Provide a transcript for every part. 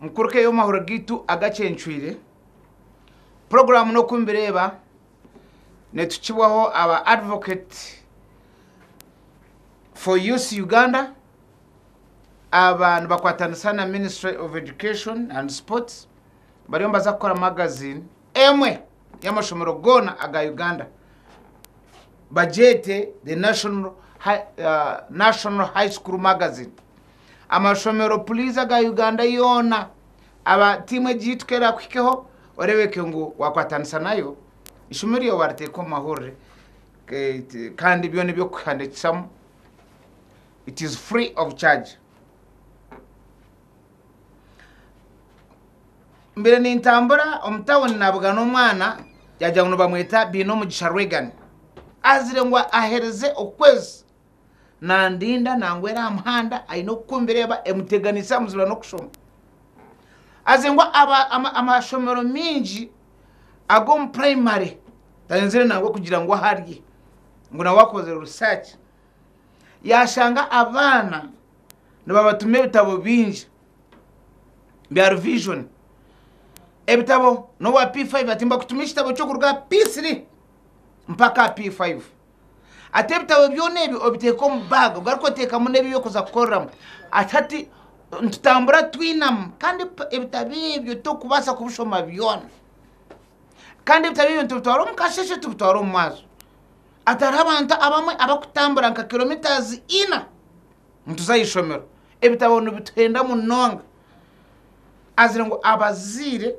Omu kuruka ey'omwahuro gaitu agacencwire, puroguraamu n'oku nibireeba nitukibwaho aba Advocate for Youth Uganda aba nibakwatanisa na Ministry of Education and Sports bariyo nibaza kukora magazini emwe y'amashomero goona aga Uganda bagyete the National High, uh, National High School Magazine. amashomero please aga Uganda yoona aba team egi yitu kerakuhikeho orebeke ngu wakwatanisa nayo ishomero ryawe wariteeka omu mahurire kandi byona ebyokuhandikisamu it is free of charge mbere nintambura omu town navuga n'omwana yagira ngu nibamweta Binomugisha Reagan azire ngu ahereze okwezi nandinda nangwera aha muhanda aine okukumbireba emuteganisa muzibura n'okushoma aze ngu amashomero mingi ag'omu primary tayenzire nangwa kugira ngu aharye ngu nawe akozere research yashanga abaana nibabatuma ebitabo bingi bya revision ebitabo n'owa p5 ati mbakutumire ekitabo ky'okuruga aha p3 mpaka aha p5. Ati, Ebitabo byona ebi obiteeka omu baaga ogaruke oteekamu n'ebi orikuza kukoreramu. Ati, Hati nitutambura twinamu kandi ebitabo ebyo torikubaasa kubishoma byona. Kandi ebitabo ebyo nitubitwara omu kasheeshe tubitware omu mwazyo. Ati, Hariho abantu abamwe abarikutambura nka kiromitaazi ina nituza aha ishomero. Ebitabo nibituhenda munonga. Azire ngu abazaire.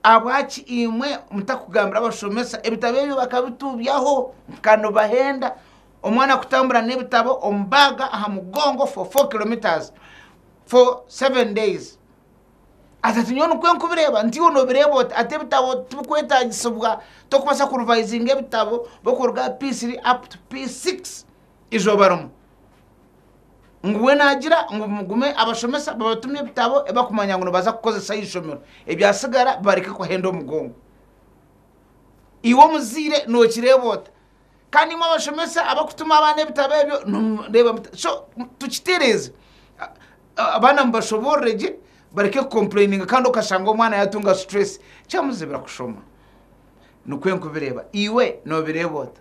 Ahabwaki imwe mutakugambira abashomesa? Ebitabo ebyo bakabituubyaho nka nibahenda omwana kutambura n'ebitabo omu baaga aha mugongo for 4 kilometers for 7 days ati ati nyowe nikwo nkubireeba nti iwe noobireeba oti ati ebitabo tibikwetaagisibwa tokubaasa kurivayizinga ebitabo bw'okuruga aha p3 up to p6 izooba rimwe ngu we naagira ngu mugume abashomesa babatumye ebitabo ebi bakumanya ngu nibaza kukozesa aha ishomero, ebyatsigara bibareke kuhenda omugongo. Iwe omuzaire nookireeba ota? Kandi imwe abashomesa abarikutuma abaana ebitabo ebyo nimureeba muta? So tukitereeze, abaana mubashoboorore gye bareke kukompurayininga kandi okashanga omwana yaatunga situreesi kyamuzibira kushoma. Nikwo ndikubireeba. Iwe noobireeba ota?